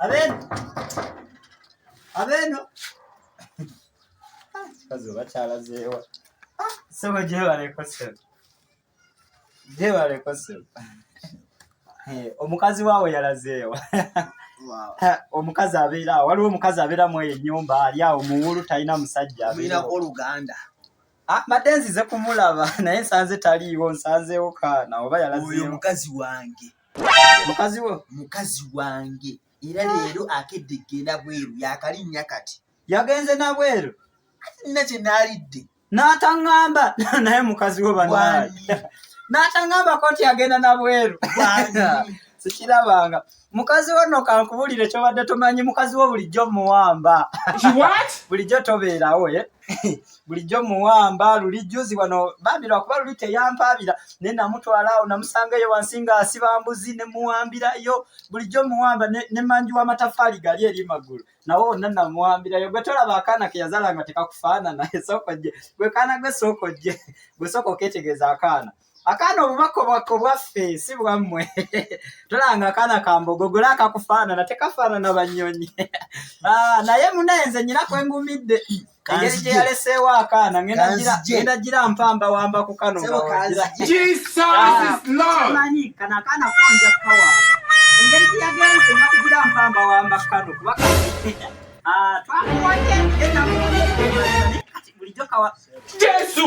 Abeno. Abeno. Ah, kikazi oba kyalazeewa. Ah, Sebo gyebaleko sebo. Gyebaleko sebo. Eh, omukazi waawo yalazeewa. omukazi abeera waliwo omukazi abeera mu eyo ennyumba ali awo muwulu talina musajja abeera oluganda Ah, mbadde nzize kumulaba naye nsanze taliiwo nsanzeewo kaana oba yalaoyo mukazi wange mukazi wo mukazi wange era ah. leero akedde kgenda bweru yakalinnya kati yagenze nabweru nina kye naalidde n'ataŋŋamba naye mukazi wo banaye n'ataŋŋambako nti agenda nabweru sikirabanga mukazi wo no kankubulire kyobadde tomanyi mukazi wo bulijjo muwamba bulijjo tobeerawo eh? bulijjo muwamba luli juzi wano bambi lwakuba luli teyampaabira ne namutwala awo namusangaeyo wansi nga asiba mbuzi ne muwambirayo bulijjo muwamba ne manji w'amatafaali gali eri magulu nawe wonna namuwambirayo gwe tolaba akaana ke yazala nga tekakufaanana esookoje gwe kaana gwe sookojje gwe sooka oketegeeza akaana akaana obubaka obubaka obwaffe si bwammwe tolanga akaana kambogogola akakufaanana tekafaanana bannyonyi ah, naye munaye nze nyina kwe ngumidde engeri gye yaleseewo akaana ngenda gira mpamba wamba ku kano manyi kano akaana konja kukawamba engeri gye yagenze nga kugira mpamba wamba ku kano kuba ah, twakuwaye bulijjo kawa jesu